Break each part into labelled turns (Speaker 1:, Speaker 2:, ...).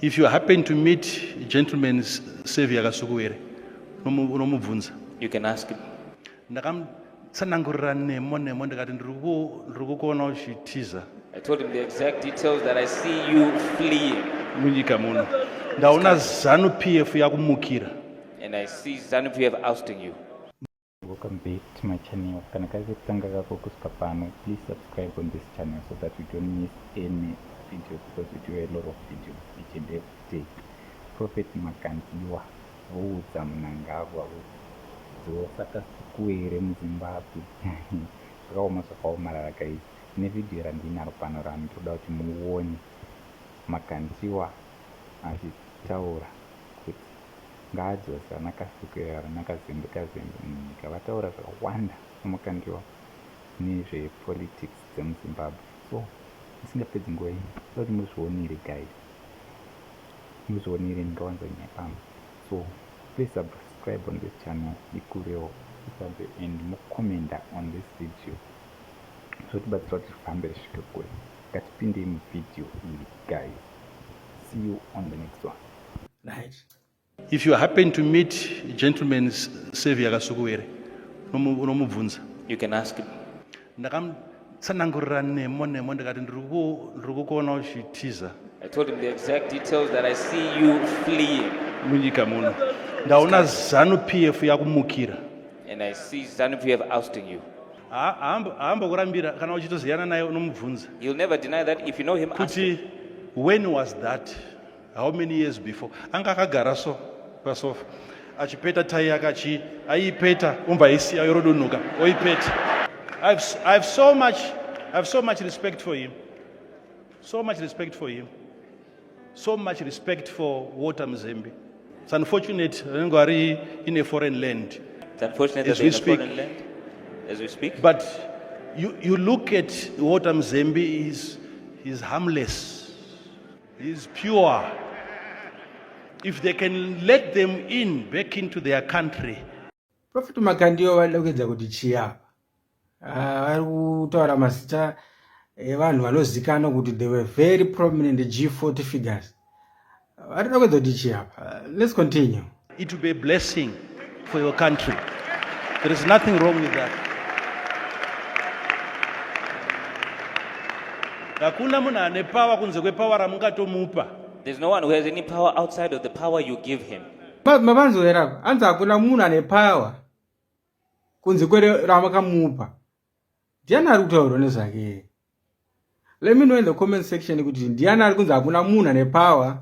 Speaker 1: If you happen to meet gentleman Savior Kasukuwere, unomubvunza. You can ask
Speaker 2: him. Ndakamutsanangurira
Speaker 1: nemo nemo ndikati ndiri kukuona uchitiza. I told him the
Speaker 2: exact details that I see you fleeing. Munyika muno.
Speaker 1: Ndaona ZANU PF yakumukira. And I see
Speaker 2: ZANU PF ousting you. Welcome
Speaker 3: back to my channel. Kana kari kekutanga kako kusvika pano, please subscribe on this channel so that you don't miss any video because we do a lot of videos each and every day. Prophet Makandiwa voudza Mnangagwa dzosaka sukuere muZimbabwe zvakaoma zvakaomarara guys. Kune video randinaro pano rano toda kuti muone Makandiwa achitaura kuti ngaadzose ana Kasukiro ava naKazembe Kazembe munyika vataura zvakawanda saMakandiwa nezve politics dzemuZimbabwe so ndisingapedzi nguva ini ndoda kuti muzvionere guys muzvionere ndingawanza nyaya pano so please subscribe on this channel ikurewo isanze and mucomenda on this video zvotibatsira kuti zvifambe risvike kure ngatipindei muvideo iyi guys see you on the next one right
Speaker 1: if you happen to meet gentleman savior kasukuwere unomubvunza you can ask
Speaker 2: him ndakamutsanangurira
Speaker 1: nemo nemo ndikati ndiri kukuona uchitiza I told him the
Speaker 2: exact details that I see you fleeing. munyika muno
Speaker 1: ndaona zanu p f yakumukira And I see
Speaker 2: ZANU PF ousting you. Ha- haambo-
Speaker 1: haambokurambira kana uchitoziyana naye unomubvunza You'll never deny that
Speaker 2: if you know him, ask him. kuti when was
Speaker 1: that how many years before anga akagara so pasofa achipeta tai yake achi aiipeta umva isiya yorodunhuka oipeta I've, I've so much I've so much respect for him so much respect for him so much respect for water mzembe it's unfortunate anenge ari in a foreign land it's unfortunate as
Speaker 2: we speak land, as we speak but
Speaker 1: you, you look at water mzembe is, is harmless He is pure. If they can let them in back into their country. Prophet
Speaker 4: Makandiyo vanoda kuedza kuti chii apa? Ah, vari kutaura mazita evanhu vanozikanwa kuti they were very prominent G40 figures. Vanoda kuedza kuti chii apa? Let's continue. It will be a blessing
Speaker 1: for your country. There is nothing wrong with that. Hakuna munhu ane power kunze kwepower ramungatomupa. There's no one who has
Speaker 2: any power outside of the power you give him. Mavanzowera
Speaker 4: anzi hakuna munhu ane power kunze kwere ramakamupa. Ndiani ari kutaurwa nezvake? Let me know in the comment section kuti ndiani ari kunzi hakuna munhu ane power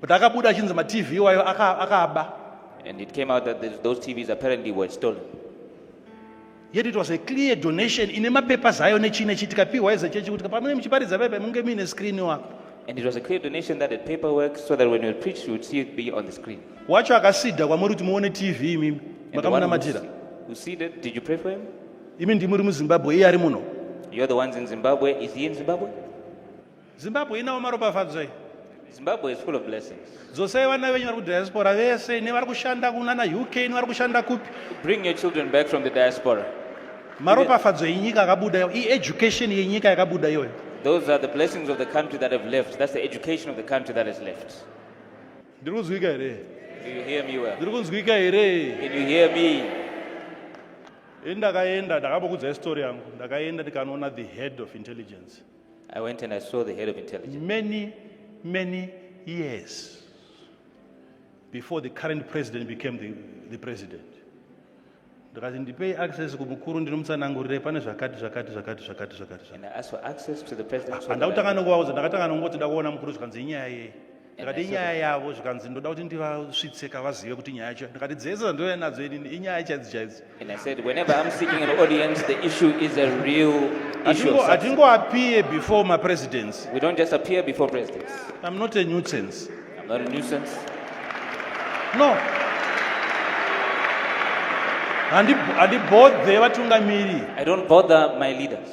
Speaker 1: But akabuda achinzi ma TV iwayo akaaba. And it came
Speaker 2: out that those TVs apparently were stolen.
Speaker 1: Yet it was a clear donation ine mapapers ayo nechii nechii tikapiwa as a church kuti pamene muchiparidza pepe munge muine screen wako. And it was a clear
Speaker 2: donation that the paperwork so that when you preach you would see it be on the screen. Wacho akasidha
Speaker 1: kwamuri kuti muone TV imimi. Makamunamatira. You see that?
Speaker 2: Did you pray for him? Imi ndimuri
Speaker 1: muZimbabwe iye ari muno. You're the ones in
Speaker 2: Zimbabwe. Is he in Zimbabwe? zimbabwe
Speaker 1: inawo maropafadzo iyi zimbabwe
Speaker 2: is full of blessings dzosai vana venyu vari
Speaker 1: kudiaspora vese nevari kushanda kunana uk nevari kushanda kupi bring your children back
Speaker 2: from the diaspora maropafadzo
Speaker 1: enyika akabuda iyo ieducation yenyika yakabuda iyoyo those are the blessings
Speaker 2: of the country that have left that's the education of the country that has left ndiri
Speaker 1: kunzwika here
Speaker 2: ndiri kunzwika here ndakaenda
Speaker 1: ndakabokudzai story yangu ndakaenda ndikanoona the head of intelligence I went and I
Speaker 2: saw the head of intelligence. Many, many
Speaker 1: years before the current president became the, the president. ndikati ndipei access kumukuru ndinomutsanangurire pane zvakati zvakati zvakati zvakati zvakati
Speaker 2: zvakati. And I asked for access to the president. so that I- Handakutanga nokuvaudza ndakatanga
Speaker 1: nokungoti ndakuona mukuru zvikanzi inyaya yei. ndikati inyaya yavo zvikanzi ndoda kuti ndivasvitse kavazive kuti nyaya yacho ndikati dzese dzandouya nadzo inini inyaya chaidzo
Speaker 2: chaidzo hatingoappear
Speaker 1: before mapresidents we don't just appear before
Speaker 2: presidents i'm not a
Speaker 1: nuisance
Speaker 2: i'm not a nuisance no
Speaker 1: handibodhe vatungamiri i don't bother
Speaker 2: my leaders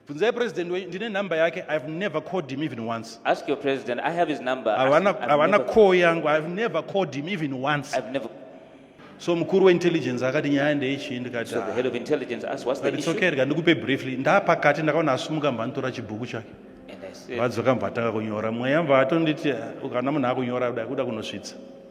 Speaker 1: bvunzai president wenyu ndine number yake ihave never called him even once ask your president i have
Speaker 2: his number havana call yangu
Speaker 1: ihave never called him even once I've never...
Speaker 2: so
Speaker 1: mukuru weintelligence akati nyaya ndeichii ndikati so the head of intelligence
Speaker 2: asked what's the issue okay ndika ndikupe
Speaker 1: briefly ndapakati ndakaona asumuka mbanditora chibhuku chake vadzoka
Speaker 2: mvatanga kunyora
Speaker 1: mweya mvaatonditi ukana munhu akunyora kuda kuda kunosvitsa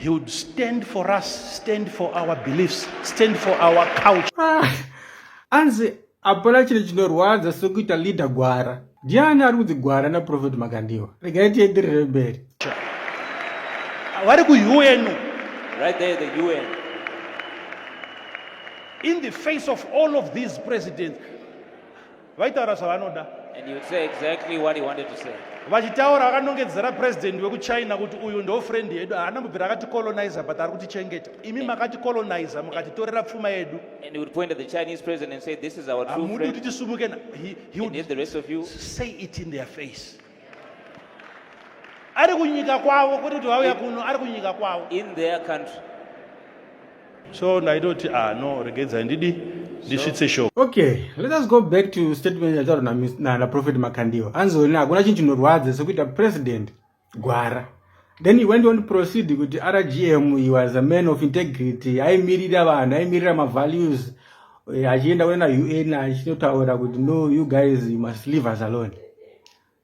Speaker 1: He would stand for us, stand for our beliefs, stand for our culture. Ah,
Speaker 4: anzi hapana chiri chinorwadza sokuita leader gwara. Ndiani ari kunzi gwara naProphet Makandiwa? Regai tienderere mberi. Vari
Speaker 1: kuUN. Right there the
Speaker 2: UN.
Speaker 1: In the face of all of these presidents, vaitaura zvavanoda
Speaker 2: vachitaura vakanongedzera
Speaker 1: president wekuchina kuti uyu ndo friend yedu haana mubvira akati colonizer but ari kutichengeta imi makati colonizer mukatitorera pfuma yedu
Speaker 2: hamudi kuti
Speaker 1: tisumuke say
Speaker 2: it in their
Speaker 1: face ari kunyika kwavo kwete kuti vauya kuno ari kunyika kwavo in their country so ndaitoti ah no regedzai ndidi ndisvitse show okay let us go
Speaker 4: back to statement yataurwa naprofet makandiwa anzoni hakuna chinhu chinorwadza sekuita president gwara then he went on to proceed kuti rgm he was a man of integrity aimirira vanhu aimirira mavalues eh, achienda kuenda un achinotaura kuti no you guys you must leave us alone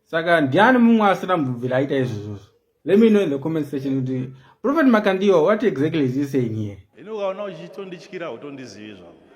Speaker 4: saka ndiani mumwe asina mubvira aita izvozvozvo let me know in the comment section kuti prophet makandiwa what exactly is he saying here ini ukaona
Speaker 1: uchitondityira utondizivi zvavo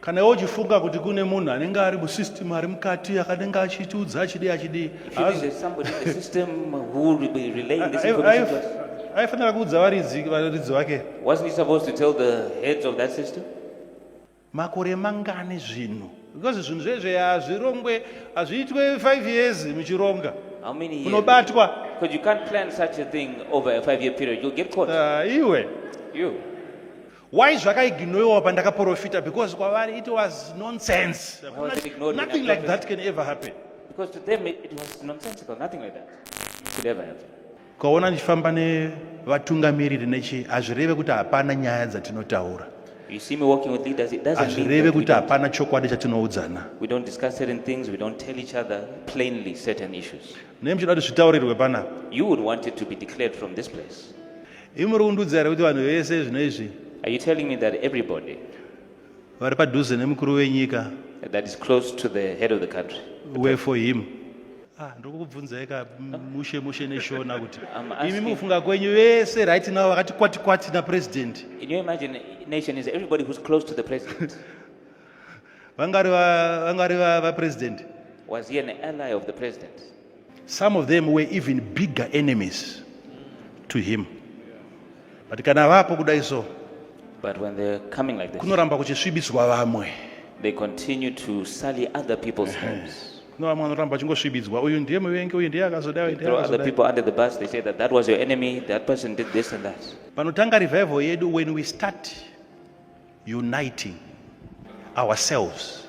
Speaker 1: kana iwe uchifunga kuti kune munhu anenge ari musystem ari mukati akanenge achitiudza achidii
Speaker 2: achidii aifanira kuudza
Speaker 1: varidzi varidzi vake
Speaker 2: makore
Speaker 1: mangani zvinhu because zvinhu zvezve hazvirongwe hazviitwe five years muchironga
Speaker 2: unobatwa iwe Why
Speaker 1: zvakaignoiwa pandakaprofita because kwavari it was nonsense. Nothing, nothing
Speaker 2: like that can ever happen.
Speaker 1: Because to them
Speaker 2: it, it was nonsensical, nothing like that could ever happen. Ukaona ndichifamba
Speaker 1: nevatungamiriri nechi hazvireve kuti hapana nyaya dzatinotaura. You see me walking
Speaker 2: with leaders, it doesn't mean hazvireve kuti hapana chokwadi
Speaker 1: chatinoudzana. We don't discuss certain
Speaker 2: things, we don't tell each other plainly certain issues. Nei muchida kuti zvitaurirwe
Speaker 1: panapa? You would want it to be
Speaker 2: declared from this place. Imi muri kundiudza
Speaker 1: here kuti vanhu vese zvino izvi Are you telling me that
Speaker 2: everybody vari
Speaker 1: padhuze nemukuru wenyika that is close
Speaker 2: to the head of the country, were for him?
Speaker 1: Ah, ndiri kukubvunzai ka mushe mushe neshona kuti I'm asking- imi mukufunga
Speaker 2: kwenyu
Speaker 1: vese right now vakati kwati kwati napresident in your imagination,
Speaker 2: is everybody who's close to the president?
Speaker 1: vangari va- vangari va- vapresident Was he
Speaker 2: an ally of the president? some of them
Speaker 1: were even bigger enemies to him but kana vapo kudai so but when they're
Speaker 2: coming like this kunoramba kuchisvibiswa
Speaker 1: vamwe they continue
Speaker 2: to sully other people's homes no vamwe vanoramba
Speaker 1: vachingosvibidzwa uyu ndiye muvengi uyu ndiye
Speaker 2: akazoda panotanga revival
Speaker 1: yedu when we start uniting ourselves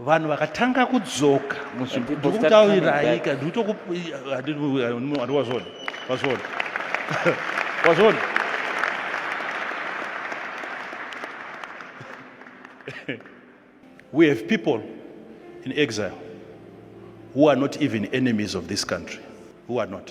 Speaker 1: vanhu vakatanga kudzoka muzvimbotauriraika
Speaker 2: ndikutokuandiwazvona wazvona
Speaker 1: wazvona we have people in exile who are not even enemies of this country who are not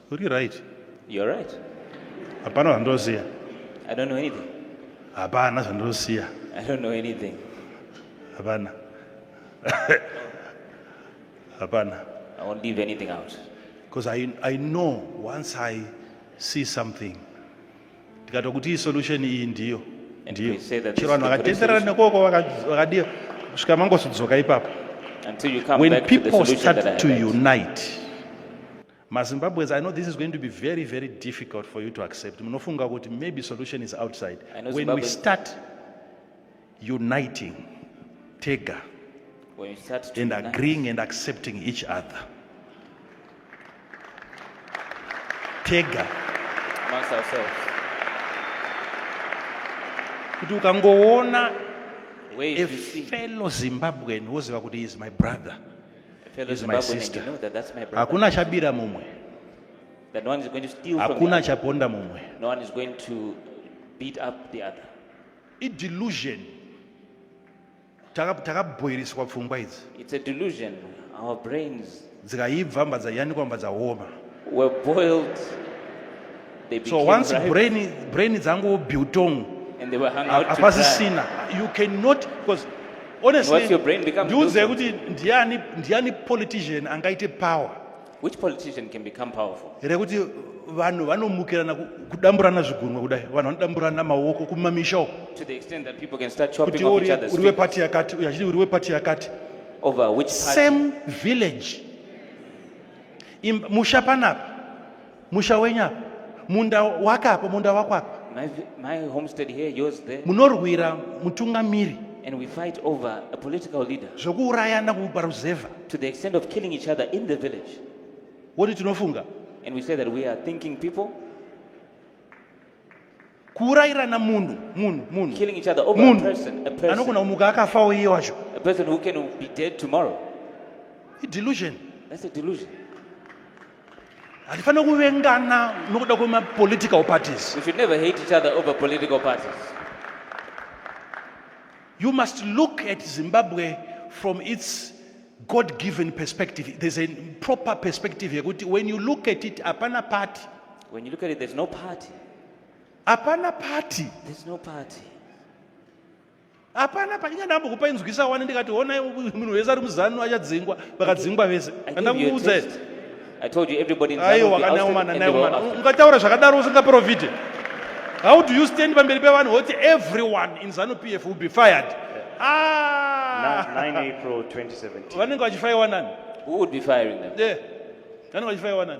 Speaker 2: Uri right.
Speaker 1: You're right.
Speaker 2: Hapana
Speaker 1: zvandoziva. I don't know
Speaker 2: anything. Hapana
Speaker 1: zvandoziva. I don't know anything.
Speaker 2: Hapana.
Speaker 1: Hapana. I won't leave
Speaker 2: anything out. Because I,
Speaker 1: I know once I see something ndikati kuti solution iyi ndiyo ndiyo
Speaker 2: chero vanhu vakatenderera nekoko vakadii
Speaker 1: kusvika mangosudzoka ipapo
Speaker 2: when people start to unite
Speaker 1: mazimbabweans i know this is going to be very very difficult for you to accept munofunga kuti maybe solution is outside when Zimbabwe... we start uniting tega
Speaker 2: and agreeing and accepting
Speaker 1: each other tega kuti ukangoona
Speaker 2: a fellow zimbabwean
Speaker 1: woziva kuti is my brother is my
Speaker 2: sister. Hakuna chabira mumwe. Hakuna chaponda mumwe.
Speaker 1: No
Speaker 2: one
Speaker 1: is going to
Speaker 2: beat up the other. I delusion.
Speaker 1: Takabhoiriswa pfungwa idzi. It's a delusion.
Speaker 2: Our brains. Dzikaibva mbadza
Speaker 1: yanikwa mbadza homa. We're boiled.
Speaker 2: so once
Speaker 1: brain brain
Speaker 2: dzangu
Speaker 1: biltong
Speaker 2: hapasisina you
Speaker 1: cannot because honestly
Speaker 2: ndiudzei kuti ndiani ndiani
Speaker 1: politician angaite power which politician
Speaker 2: can become powerful rekuti
Speaker 1: vanhu vanomukirana kudamburana zvigunwe kudai vanhu vanodamburana maoko kumamisha uko
Speaker 2: kuti uri wepati yakati uyo
Speaker 1: achiti
Speaker 2: uri
Speaker 1: wepati yakati over which
Speaker 2: same village
Speaker 1: musha panapa musha wenyu apa munda wake apa munda wako apa My, vi- my
Speaker 2: homestead here, yours there. munorwira
Speaker 1: mutungamiri And we fight
Speaker 2: over a political leader zvokuurayana
Speaker 1: kuparuzevha to the extent of
Speaker 2: killing each other in the village. woti
Speaker 1: tinofunga And we say that we
Speaker 2: are thinking people.
Speaker 1: kuurayirana munhu munhu munhu killing each other over a person
Speaker 2: a person anogona kumuka akafawo
Speaker 1: iye wacho a person who can
Speaker 2: be dead tomorrow i
Speaker 1: delusion that's a
Speaker 2: delusion hatifanira
Speaker 1: kuvengana nokuda kwemapolitical parties we should never hate each
Speaker 2: other over political parties
Speaker 1: you must look at zimbabwe from its god given perspective there's a proper perspective yekuti when you
Speaker 2: look
Speaker 1: at it
Speaker 2: hapana party
Speaker 1: when
Speaker 2: you look at
Speaker 1: it there's
Speaker 2: no
Speaker 1: party hapana party there's no party
Speaker 2: hapana
Speaker 1: panyika ndambokupa inzwisa wani ndikati honai munhu wese ari muzanu achadzingwa vakadzingwa vese andakuudza aiwa
Speaker 2: kana umana nai umana
Speaker 1: ungataura
Speaker 2: zvakadaro usingaprofite
Speaker 1: how do you stand pamberi pevanhu woti everyone in zanu p f will be fired ah!
Speaker 5: vanenge vachifaiwa nani
Speaker 2: vanenge
Speaker 1: vachifaiwa nani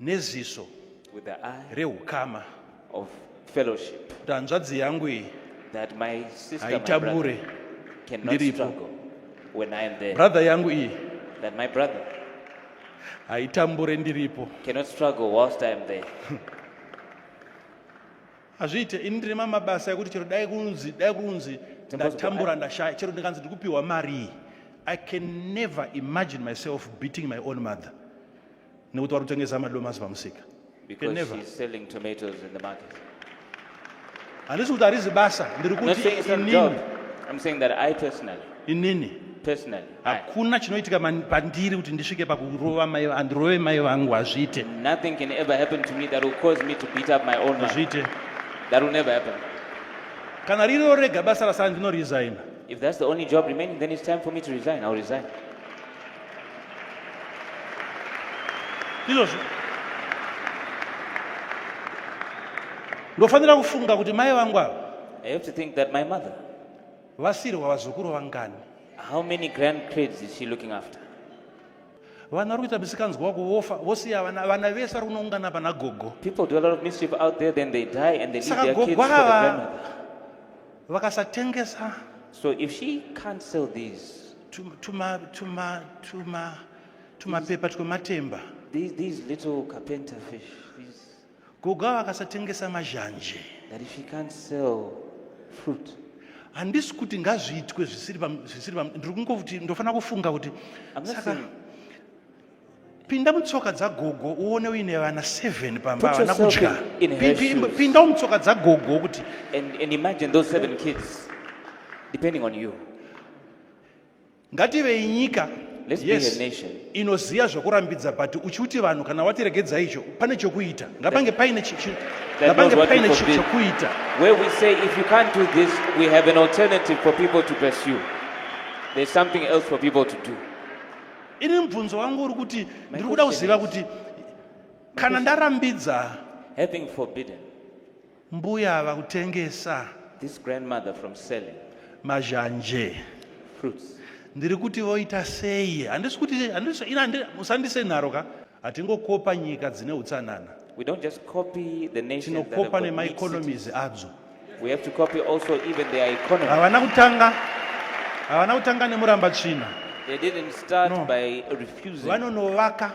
Speaker 1: neziso with the
Speaker 2: eye reukama
Speaker 1: of
Speaker 2: fellowship kuti hanzvadzi yangu
Speaker 1: iyi that my sister, my brother
Speaker 2: haitambure
Speaker 1: cannot
Speaker 2: ndiripo struggle when I am there. brother yangu iyi
Speaker 1: That my brother haitambure ndiripo cannot struggle whilst
Speaker 2: I am there.
Speaker 1: hazviite ini ndine mamabasa ekuti chero dai kunzi dai kunzi ndatambura ndashaya chero ndikanzi ndikupiwa mari iyi i can never imagine myself beating my own mother nekuti vari kutengesa madomasi pamusika handisi kuti harizi basa
Speaker 2: ndiri kuti inini hakuna chinoitika
Speaker 1: pandiri kuti ndisvike pakurova mai andirove mai vangu hazviite
Speaker 2: hazviite kana
Speaker 1: ririwo rega basa rasara ndinoresigna if that's the only
Speaker 2: job remaining then it's time for me to resign i'll resign
Speaker 1: ndizvozvo ndofanira kufunga kuti mai vangu ava I have to think that
Speaker 2: my mother, vasirwa
Speaker 1: vazukuru vangani how many
Speaker 2: grandkids is she looking after?
Speaker 1: vana vari kuita misikanzwa wako vofa vosiya vana vana vese vari kunoungana pana gogo People do a lot of mischief
Speaker 2: out there, then they die and they leave Saka their kids for the gogo ava- grandmother. vakasatengesa
Speaker 1: So if she
Speaker 2: can't sell these, tuma tuma tuma
Speaker 1: tumapepa twematemba these, these little
Speaker 2: carpenter fish these... goga
Speaker 1: vakasatengesa mazhanje that if you can't
Speaker 2: sell fruit handisi
Speaker 1: kuti ngazviitwe zvisiri ndiri kungokuti ndofanira kufunga kuti saka pinda mutsoka dzagogo uone uine vana 7 pamba havana kudya
Speaker 2: pindawo mutsoka dzagogo
Speaker 1: kuti and imagine
Speaker 2: those seven kids depending on you ngativei
Speaker 1: nyika yes
Speaker 2: inoziva zvokurambidza
Speaker 1: but uchiuti vanhu kana watiregedza icho pane chokuita ngapange paine ngapange
Speaker 2: paine chokuita where
Speaker 1: we say
Speaker 2: if you can't do this we have an alternative for people to pursue there's something else for people to do ini
Speaker 1: mubvunzo wangu uri kuti ndiri kuda kuziva kuti kana ndarambidza having forbidden
Speaker 2: mbuya
Speaker 1: ava kutengesa this grandmother
Speaker 2: from selling mazhanje
Speaker 1: fruits
Speaker 2: ndiri kuti
Speaker 1: voita sei handisi kuti handisi ina musandise nharo ka Hatingokopa nyika dzine utsanana. We don't just copy
Speaker 2: the nations that have Tinokopa got big nemaeconomies
Speaker 1: cities.
Speaker 2: adzo. We have to
Speaker 1: copy
Speaker 2: also even their economy. Havana kutanga
Speaker 1: havana kutanga nemuramba tsvina. They didn't start
Speaker 2: No. by refusing. Vanonovaka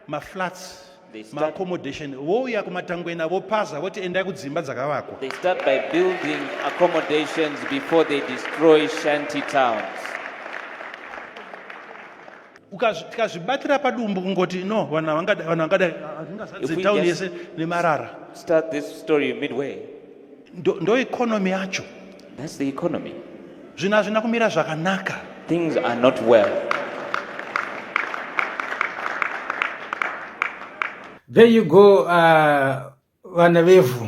Speaker 1: maflats They start-
Speaker 2: maaccommodation vouya
Speaker 1: kumatangwena vopaza voti endai kudzimba dzakavakwa. They start by
Speaker 2: building accommodations before they destroy shanty towns.
Speaker 1: tikazvibatira padumbu kungoti no vanhu havangada vanhu vangada hazvingazadze town
Speaker 2: yese nemarara
Speaker 1: start this
Speaker 2: story midway ndo, ndo
Speaker 1: economy yacho that's the economy
Speaker 2: zvinhu hazvina
Speaker 1: kumira zvakanaka things are not
Speaker 2: well
Speaker 4: there you go uh, vana vevhu